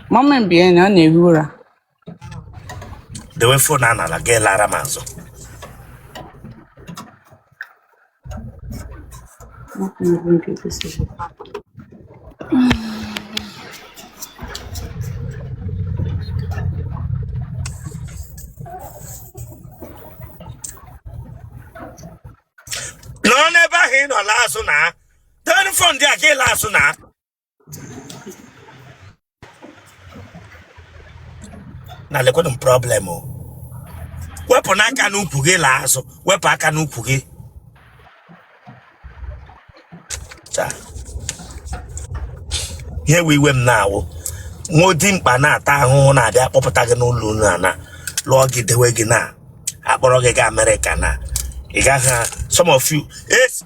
Mama m bi ya na ọ na-ehi ụra. dewe fon a n'ala gị lara m azụ nọ n'ebe ahụ ị nọ laa azụ na ten fon dị a gị laa azụ na na lekwanụ m problem o wepụ n'aka n'ukwu gị laa azụ wepụ aka n'ukwu gị Cha. ihe we iwe m na-awụ nwa dimkpa na-ata ahụhụ na-abịa akpọpụta gị n'ụlọ unu a na lụọ gị dewe gị na a kpọrọ gị gaa amerịka na ị gaghị some of you es-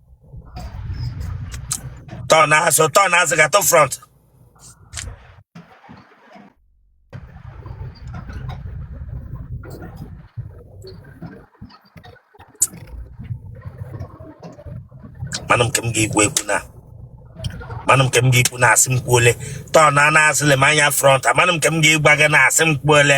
Turn azụ, turn azụ, ga to front. Mana m ka m ga-ekwu ekwu na mana m ka m ga-ekwu na asị m kwuole turn azụ lee m anya front amana m ka m ga-agwa gị na asị m kwuole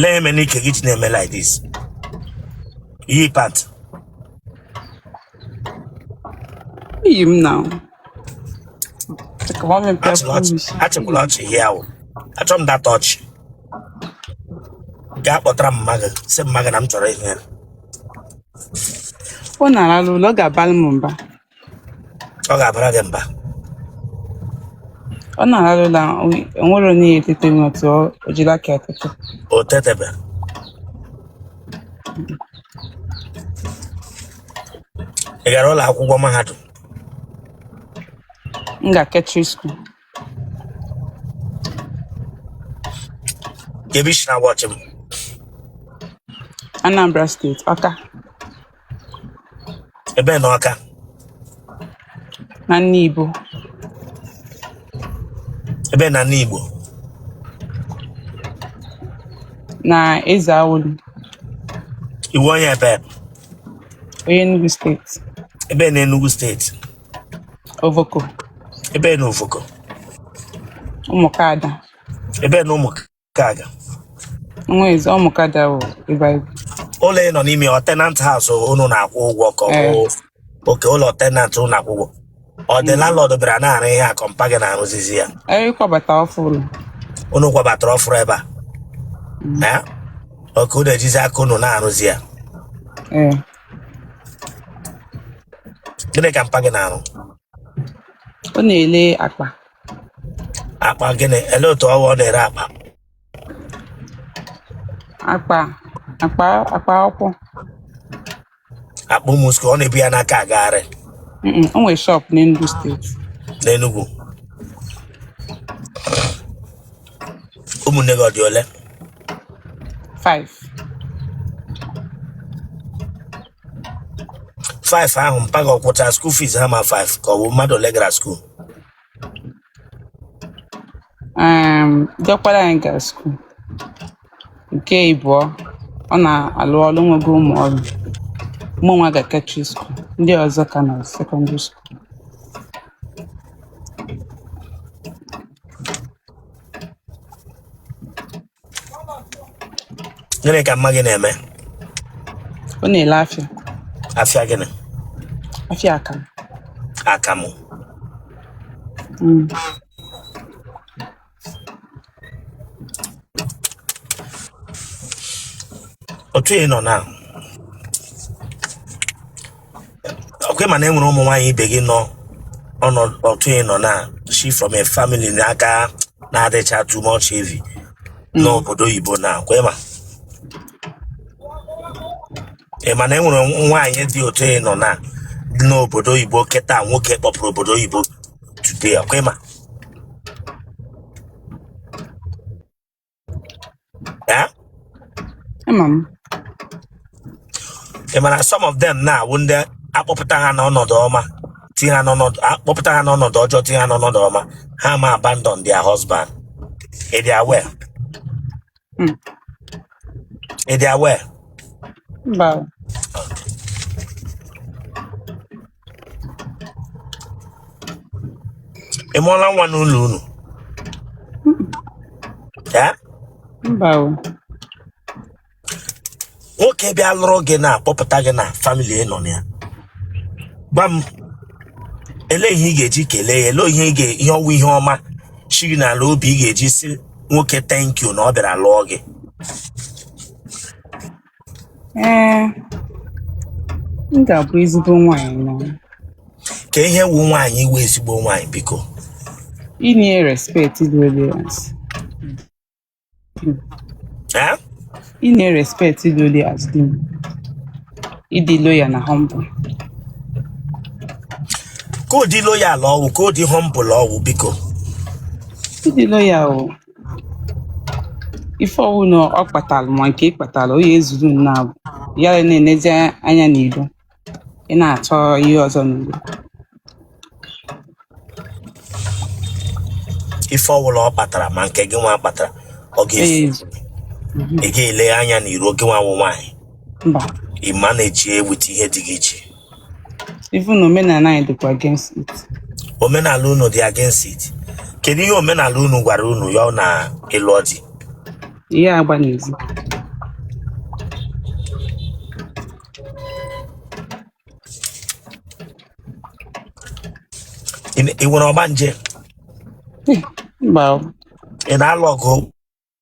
lee eme n'ike gị ji na-eme like this yi pant Iyi m na. Chika ma mi pia achịla ọchị promise. achịkwala ọchị ihe ahụ achọ m that ọchị gaa kpọtara m mma gị sị mma gị na m chọrọ ịhụ ya Ọ na-arara ụlọ ọ ga-abara m mba. ọ ga-abara gị mba ọ na-arụ na o nwere onye etete n'otu o jiri aka etete o tetebe ị gara ụlọ akwụkwọ mahadum m ga catering skuul Ebe i si na-awatch m. Anambra steeti Ọka Ebee na Ọka. na Nibo Ebee na Nibo. na Ezeawulu Ị wụ onye ebee. onye Enugu steeti Ebee na Enugu steeti. Ovoko. Ebee na Ovoko. Ụmụkada. Ebee na Ụmụkada. Nwa eze Ụmụkada bụ ebe anyị. Ụlọ ị nọ n'ime ọ tenant house unu na-akwụ ụgwọ ka ọ eh. okay ụlọ tenant unu na-akwụ ụgwọ. Ọ dị mm. landlord bịara na-arụ ihe a ka ọ mpa gị na-arụzizi ya. Anyị eh, kwabata ọfụrụ. Unu kwabatara ọfụrụ ebe a. Mm. Eh? Okay unu ejizi aka unu na-arụzi ya. gịnị ka mpa gị na-arụ ọ na-ele akpa akpa gịnị ele otu ọ wụ ọ na-ere akpa akpa akpa akpa akwụkwọ akpa ụmụ school ọ na-ebu ya n'aka agagharị Mm-mm, o nwere shop n'Enugu steeti n'Enugu ụmụnne gị ọ dị ole 5 5 ahụ mpa gị ọ kwụcha school fees ha ma 5 ka ọ bụ mmadụ ole gara school um, diọkpara anyị gara school nke ịbụọ ọ na-alụ ọrụ nwego ụmụ ọrụ mụ nwa ga catering school ndị ọzọ ka nọ secondary school gịnị ka mma gị na-eme ọ na-ele afịa afịa gịnị afịa akamụ akamụ Mm. otu ị nọ na ọkwa ị ma na enwere ụmụ nwaanyị ibe gị nọ ọnọdụ otu ị nọ na she from a family n'aka na-adịcha too much heavy n'obodo oyibo na ọkwa ị ma ị ma na enwere nwaanyị dị otu ị nọ na dị n'obodo oyibo kịta nwoke kpọpụrụ obodo oyibo today ọkwa ị ma Eh? Ama m. ị mara some of them na-awụ ndị a kpọpụta ha n'ọnọdụ ọma tinye ha n'ọnọdụ a kpọpụta ha n'ọnọdụ ọjọọ tinye ha n'ọnọdụ ọma ha ma abandon their husband ị dị aware Mm. ị dị aware Mba. ị mụọla nwa n'ụlọ unu Eh? mba o nwoke bịa lụrụ gị na-akpọpụta gị na family ị nọ na ya gwa m ele ihe ị ga-eji kelee ya ele ihe ị ga- ihe ọ wụ ihe ọma shi gị n'ala obi ị ga-eji sị nwoke thank you na ọ bịara lụọ gị ee m ga-abụ ezigbo nwaanyị na ka ihe wụ nwaanyị ịwụ ezigbo nwaanyị biko inye respect dị loyal nsị. Eh? inye respect dị loyal as di m ịdị loyal na humble ka ụdị loyal ọ wụ ka ụdị humble ọ wụ biko ịdị loyal o ife ọwụna ọ kpatara ma nke ị kpatara onye ezuru unu abụọ ya na-enezi anya n'ilo ị na-achọ ihe ọzọ n'ilo ife ọwụla ọ kpatara ma nke gị nwa kpatara ọ ga-efu ee ị ga-ele anya n'iro gị nwa wụ nwaanyị mba ị manage with ihe di gị ji even omenala anyị dịkwa against it omenala unu dị against it kedu ihe omenala unu gwara unu ya na ịlụ di ihe agba n'ezi ị nwere ọgbanje mba ị na-alụ ọgụ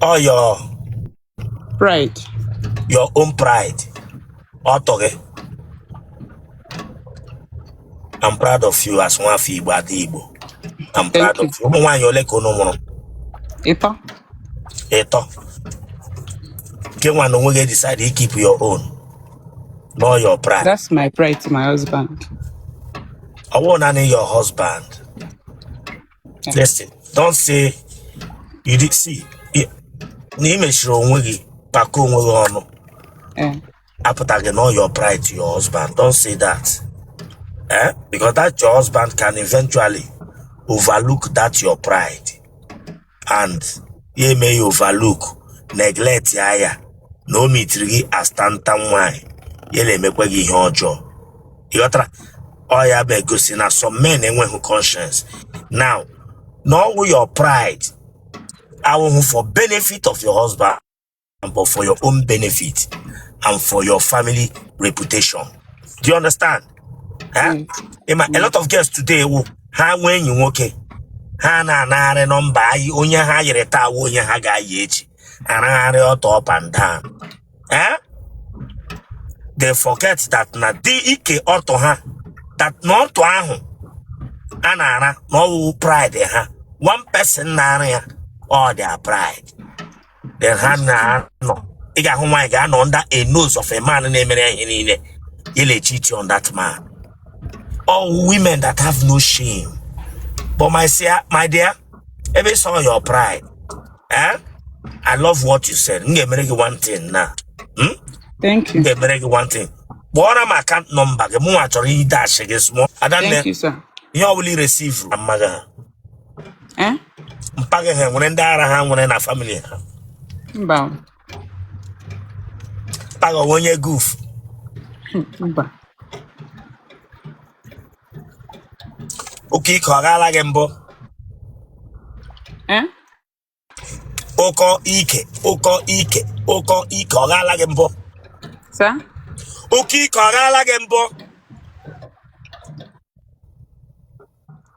ọ your Pride. your own pride ọtụ gị I'm proud of you as nwafọ Igbo ada Igbo I'm proud Thank you. of you ụmụ nwaanyị ole ka unu mụrụ Ịtọ. ịtọ gị nwa n'onwe gị decide to keep your own ọ your pride That's my pride to my husband. ọ wụhụ naanị your husband Listen, don't say you did see. i- Na ị mechiri onwe gị kpakọọ onwe gị ọnụ Eh, apụtaghị na ọ your pride to your husband. Don't say that. Eh? Because that your husband can eventually overlook that your pride and ya eme ya overlook neglect ya ya na o meetiri gị as tantan nwanyị ya na-emekwa gị ihe ọjọọ. Ị ghọtara? ọ ya bụ igosi na some men enwehụ conscience now na ọ wụ your pride awụhụ for benefit of your husband but for your own benefit and for your family reputation do you understand Eh? Mm. Ịma, a lot of girls today wụ ha nwee enyi nwoke ha na-anagharị nọmba anyị onye ha yịrị taa awụhụ onye ha ga-ayị echi aragharị ọtụ up and down eh? they forget that na dị ike ọtụ ha that na ọtụ ahụ a na-ara na ọ wụ pride ha one person na-ara ya all their pride then ha na-anọ ị ga-ahụ nwaanyị ga-anọ under a nose of a man na-emere ya ihe niile ya na-echeat on that man all women that have no shame but my, sia- my dear ebe ị sị ọ your pride eh? I love what you said m ga-emere gị one thing na m Thank you. ga-emere gị one thing kpọọrọ m account number gị mụnwa chọrọ ịdash gị small adanne Thank you, sir. ihe ọbụla i receive na mma gị ha Eh? mpa gị ha nwere ndị ara ha nwere na family ha Mba. o. mpa gị ọ wụ onye goof Mba. Oke ike ọ gaala gị mbụ? Eh? Ụkọ ike, ụkọ ike, ụkọ ike ọ gaala gị mbụ? Sa? Oke ike ọ gaala gị mbụ?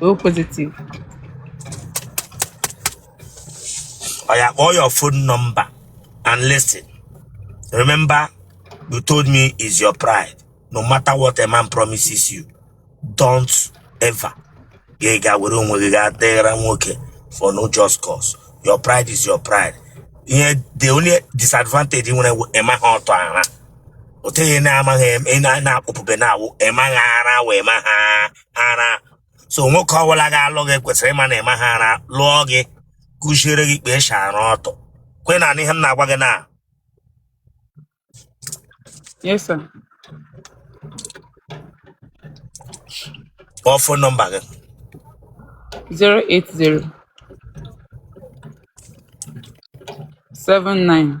o positive oya kpọọ your phone number and listen remember you told me is your pride no matter what a man promises you don't ever gị ga were onwe gị gaa dịghara nwoke for no just cause your pride is your pride ihe the only disadvantage ị nwere bụ ị maha ọtụ ara otu ihe na-amaghị em- ị na- na-akpụpụbe na-awụ ị maghị ara wee ma ha ara so nwoke ọbụla ga-alụ gị kwesịrị ịma na ị maha ara lụọ gị kụziere gị kpa e shi ara ọtụ kwa ị na-anụ ihe m na-agwa gị na Yes, sir. kpọọ fon nọmba gị 080 79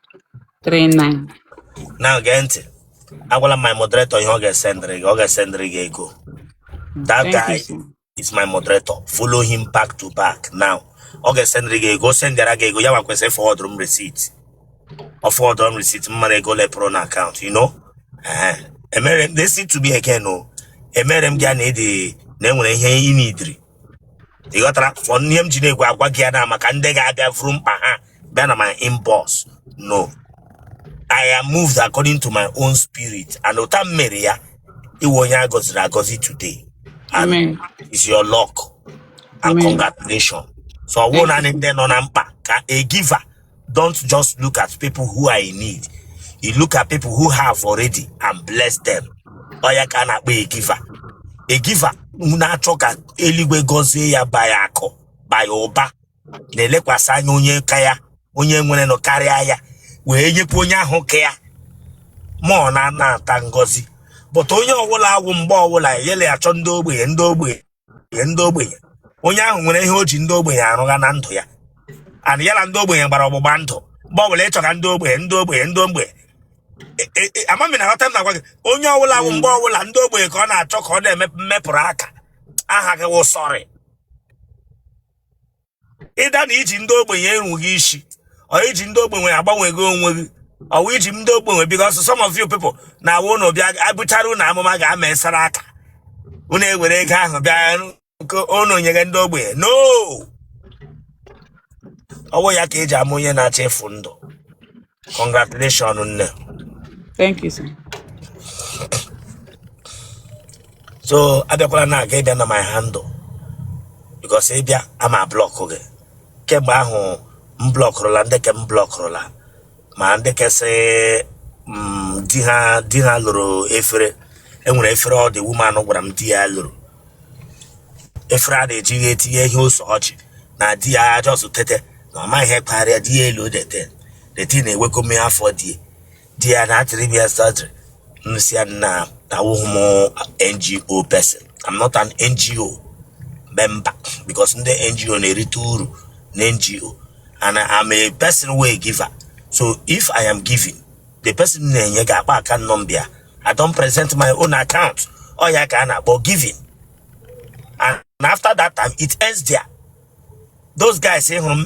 39 na gee ntị agwala my moderator ihe ọ ga-esendịrị gị ọ ga-esendịrị gị ego that Thank guy you, sir. is my moderator follow him back to back now ọ ga-esendịrị gị ego o sendịara gị ego ya nwa kwesịrị fọwọdụrụ m receipt ọ fọwọdụrụ m receipt m mara ego ole pụrụ na akaụntụ you know Ehe. emere m listen to me again o emere m gị a na ị dị na enwere ihe ị nidiri ị ghọtara fọ n'ihe m ji na-ekwu agwa gị ya na maka ndị ga-abịa vuru mkpa ha bịa na my inbox no I am moved according to my own spirit and ọ wụ taa m mere ya ị wụ onye a gọziri agọzi today and Amen. is your luck and Amen. congratulations so ọ wụ Thank you. naanị ndị nọ na mkpa ka a giver Don't just look at people who are in need. You look at people who have already and bless them. Ọ ya ka a na-akpọ a giver. A giver na-achọ ka eluigwe gọzie ya by akụ by ụba na-elekwasị anya onye ka ya onye nwerenụ karịa ya wee nyekwa onye ahụ ka ya ma ọ na-anata ngọzi but onye ọbụla ọ wụ mgbe ọbụla yele achọ ndị ogbenye ndị ogbenye nye ndị ogbenye onye ahụ nwere ihe o ji ndị ogbenye arụgha na ndụ ya and ya na ndị ogbenye gbara ọgbụgba ndụ mgbe ọbụla ị chọga ndị ogbenye ndị ogbenye ndị ogbenye E- e- e- ama m ị na-aghọta ihe m na-agwa gị onye ọbụla bụ mgbe ọbụla ndị ogbenye ka ọ na-achọ ka ọ na-emepụrụ aka aha gị wụ sọrị either na i ji ndị ogbenye enweghị isi or i ji ndị ogbenye agbanwegha onwe gị or i ji ndị ogbenye because some of you people na-awụ ụnụ bịa a buchara ụnụ amụma ga-amesara aka ụnụ ewere ego ahụ bịa nke ụnụ nyere ndị ogbenye no ọ wụ ya ka e ji ama onye na-achọ ịfụ ndụ congratulations nne Thank you, sir. so abịakwala na aga ịbịa na my handle because ị bịa ama block gị kemgbe ahụ m blọkụrụla ndị ke m blọkụrụla ma ndị kesị mm, di ha di ha lụrụ efere e nwere efere ọ dị woman gwara m di ya lụrụ efere a na-eji etinye ihe ose ọjị na di ya just tete na ọ maghị ihe kparịa di ya elu dete deti na-ewekọ mmiri afọ di di ya na-atịrị m ya surgery m sị ya na awụghị m ngo person i'm not an ngo member because ndị ngo na-erite uru na ngo and i'm a person wey giver so if i am giving the person na-enye ga-akpọ account number I don't present my own account ọ ya ka a na-akpọ giving and after that time it ends there those guys ị hụrụ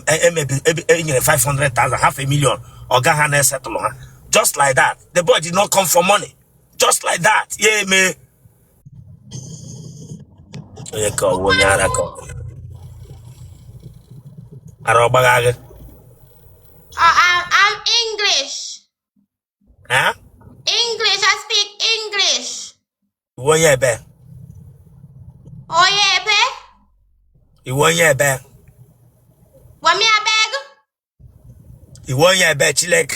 e nyere 500,000 half a million ọga ha na-esetụlụ ha just like that the boy did not come for money just like that ya eme onye ka ọ wụ onye ara ka ọ wụ ara ọ gbagha gị Uh, I'm, I'm English. ha English. I speak English. ị wụ onye ebee Oye, pe. ị wụ onye ebee Wami, I beg. ị wụ onye ebee Chineke